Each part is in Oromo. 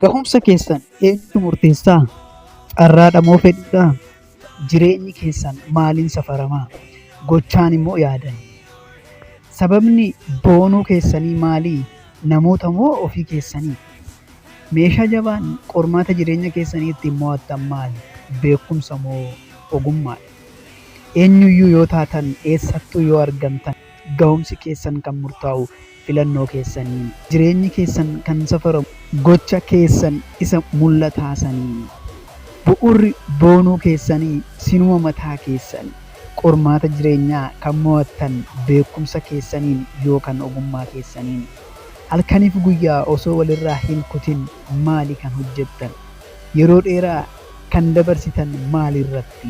Gahumsa keessan eenyutu murteessa? Carraadha moo fedhiidha? Jireenyi keessan maaliin safarama? Gochaan immoo yaadan? Sababni boonuu keessanii maali? Namoota moo ofii keessanii? Meeshaa jabaan qormaata jireenya keessanii ittiin mo'attan maali? Beekumsa moo ogummaadha? Eenyuyyuu yoo taatan eessattuu yoo argamtan gahumsi keessan kan murtaa'u filannoo keessaniini. Jireenyi keessan kan safaramu gocha keessan isa mul'ataa saniini. Bu'urri boonuu keessanii sinuma mataa keessan. Qormaata jireenyaa kan mo'attan beekumsa keessaniini yookan ogummaa keessaniini. Halkaniif guyyaa osoo walirraa hin kutin maali kan hojjattan? Yeroo dheeraa kan dabarsitan maalirratti?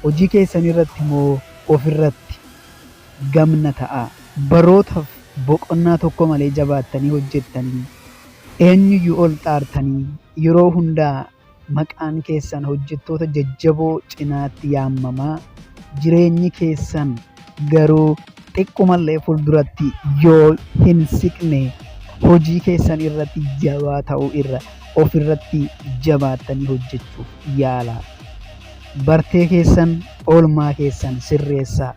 Hojii keessanirratti moo ofirratti? gamna ta'aa. Barootaf boqonnaa tokko malee jabaattanii hojjettanii eenyuyyu ol xaartanii yeroo hundaa maqaan keessan hojjettoota jajjaboo cinaatti yaammamaa jireenyi keessan garuu xiqqumallee fulduratti yoo hin siqne hojii keessan irratti jabaa ta'uu irra of irratti jabaattanii hojjechuuf yaalaa. Bartee keessan, oolmaa keessan sirreessaa.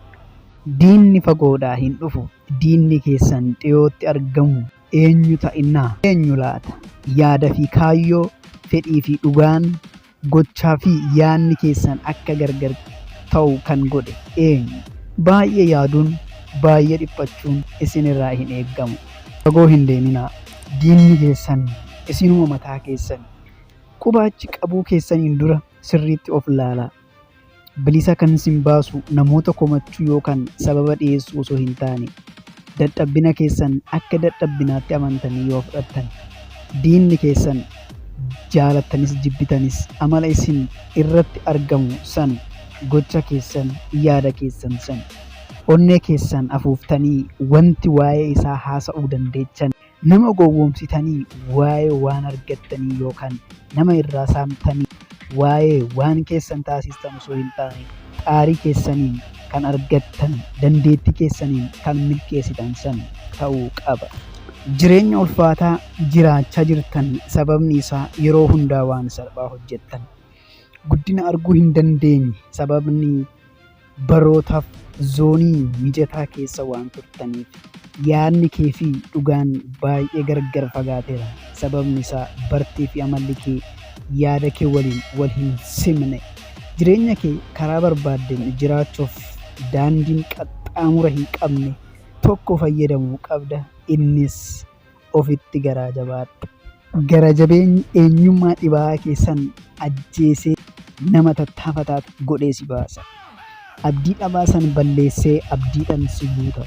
Diinni fagoodhaa hin dhufu, diinni keessan dhiyootti argamu eenyu ta'innaa? Eenyu laata? Yaada fi kaayyoo, fedhii fi dhugaan, gochaa fi yaanni keessan akka gargar ta'u kan godhe eenyu? Baay'ee yaaduun, baay'ee dhiphachuun isin irraa hin eegamu. Fagoo hin deeminaa, diinni keessan isinuma mataa keessani. Quba achi qabuu keessaniin dura sirriitti of laalaa. Bilisa kan isin baasu namoota komachuu yookaan sababa dhiyeessuu osoo hin taane, dadhabbina keessan akka dadhabbinaatti amantanii yoo fudhattan, diinni keessan jaalattanis jibbitanis amala isin irratti argamu san, gocha keessan, yaada keessan san, onnee keessan afuuftanii wanti waa'ee isaa haasa'uu dandeechan, Nama gowwoomsitanii waa'ee waan argattanii yookaan nama irraa saamtanii waa'ee waan keessan taasistan osoo hin taane xaarii keessaniin kan argattan, dandeettii keessaniin kan milkeessitan san ta'uu qaba. Jireenya ulfaataa jiraachaa jirtan sababni isaa yeroo hundaa waan salphaa hojjettan. Guddina arguu hin dandeenye sababni barootaaf zoonii mijataa keessa waan turtaniif yaadni kee fi dhugaan baay'ee gargar fagaateera. Sababni isaa bartee fi amalli kee yaada kee waliin wal hin simne. Jireenya kee karaa barbaaddeen jiraachuuf daandiin qaxxaamura hin qabne tokko fayyadamuu qabda. Innis ofitti garaa jabaadha. Gara jabeenyi eenyummaa dhibaa'aa kee san ajjeesee nama tattaafataa godhee si baasa. Abdii dhabaa san balleessee abdiidhaan si guuta.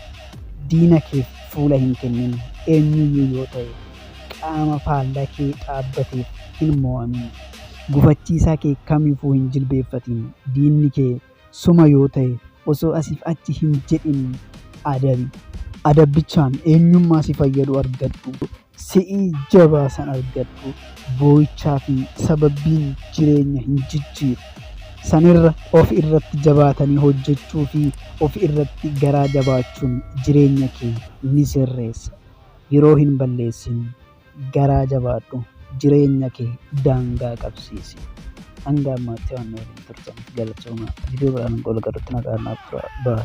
Diina keef fuula hin kennin, eenyuyyuu yoo ta'e. Qaama faalla kee dhaabbateef hin moo'amin. Gufachiisaa kee kamiifuu hin jilbeeffatin. Diinni kee. Soma yoo ta'e osoo asiif achi hin jedhin adabi. Adabbichaan eenyummaa si fayyadu argadhu. Si'ii jabaa san argadhu. Boo'ichaa fi sababbiin jireenya hin jijjiiru. Sanirra of irratti jabaatanii hojjechuu fi of irratti garaa jabaachuun jireenya kee ni sirreessa. Yeroo hin balleessin. Garaa jabaadhu jireenya kee daangaa qabsiisi. Hanga ammaatti waan na waliin turtaniif galatoomaa. Viidiyoo biraan hanga wal agarrutti nagaan naaf turaa. Bye.